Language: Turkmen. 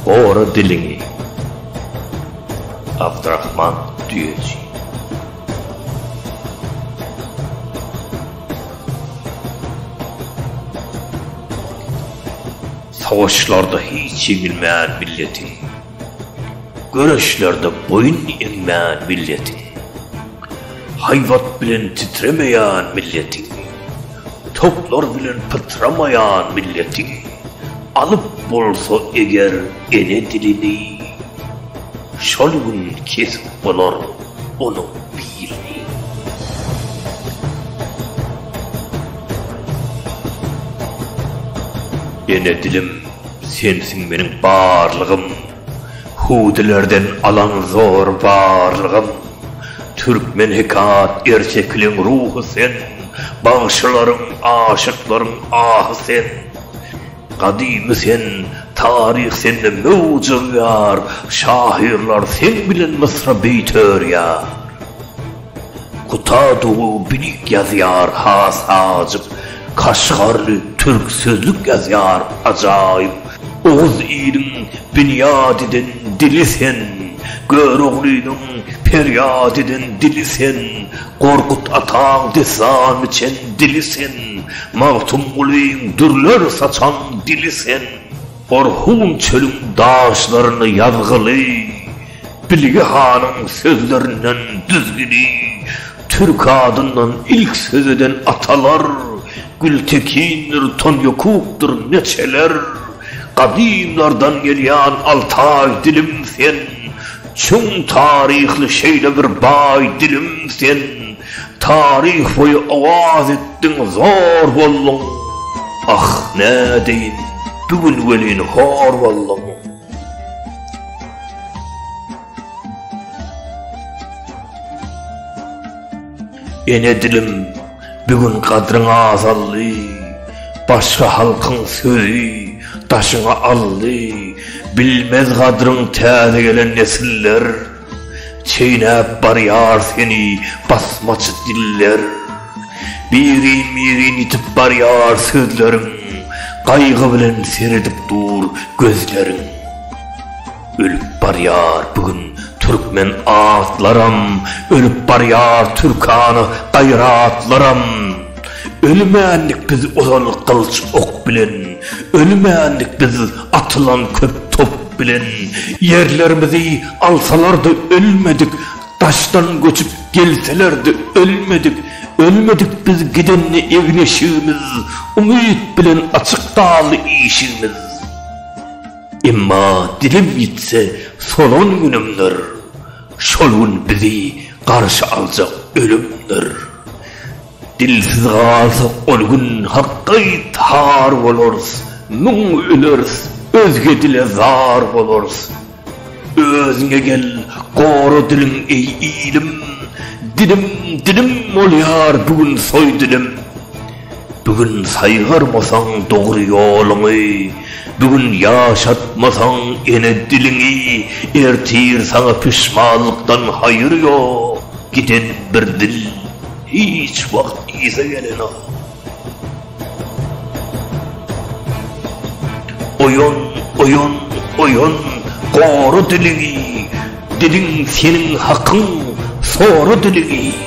Gora diliňi. Abdrahman düýeçi. Savaşlarda hiç ýeňilmän milleti. Göreşlerde boýun egmän milletiň, Haýbat bilen titremeýän milletiň, Toplar bilen pytramaýan milletiň, Alyp bolsa eger ene dilini, Şol gün kesip bolar onuň bilini. Ene dilim! Sensiň meniň barlygym, Hudilerden alan zor barlygym. Türkmen hekat ertekiliň ruhy sen, Bagşylaryň, aşyklaryň ahy sen. Gadymy sen, taryh sende möwç urýar, Şahyrlar seň bilen mysra beýt örýär. Kutadowy birik ýazýar has ajyp Kaşgarly türk sözlük ýazýar ajaýyp Oguz iliň binýat eden dili sen Göroglynyň perýat eden dili sen Gorkut ataň dessan biçen dili sen Magtymgulyň dürler saçan dili sen Orhun çölüň daşlarynda ýazgyly. Bilge hanyň sözlerinden düzgüni, Türk adyndan ilk söz eden atalar, Gültekindir, Tonýokukdyr, neçeler, Gadymlardan gelýän altaý dilim sen, Çuň taryhly şeýle bir baý dilim sen, Taryh boýy owaz etdiň, zor bolduň, Ah, nädeýin, bu gün welin hor bolduň. Ene dilim, bu gün gadryň azaldy, Başga halkyň sözi daşyňy aldy, Bilmez gadryň täze gelen nesiller. Çeýnäp barýar seni basmaçy diller. Birin-birin ýitip barýar sözleriň, Gaýgy bilen seredip dur gözleriň. Ölüp barýar bu gün türkmen atlaram, Ölüp barýar türkana gaýratlaram. Ölmändik biz ozan gylyç ok bilen, Ölmändik biz atylan köp top bilen. Ýerlerimizi alsalar-da ölmedik, Daşdan göçüp gelseler-de ölmedik. Ölmedik biz gidende egin-eşigimiz, Umyt bilen açyk galdy işigimiz. Emma dilim ýitse solan günümdir, Şol gün bizi garşy aljak ölümdir. Dilsiz galsak ol gün hak gaýtar bolarys, Müň öleris, özge dile zar bolarys. Özüňe gel, gora diliň eý ilim, Dilim, dilim bolýar bu gün soý dilim. Bu gün saýgarmasaň dogry ýoluňy, Bu gün ýaşatmasaň ene diliňi, Ertir saňa pişmanlykdan haýyr ýok, Giden bir dil. Hiç wagt yza gelenok. Oýan, oýan, oýan, gory diligi, diliň seniň hakyň, sory diligi.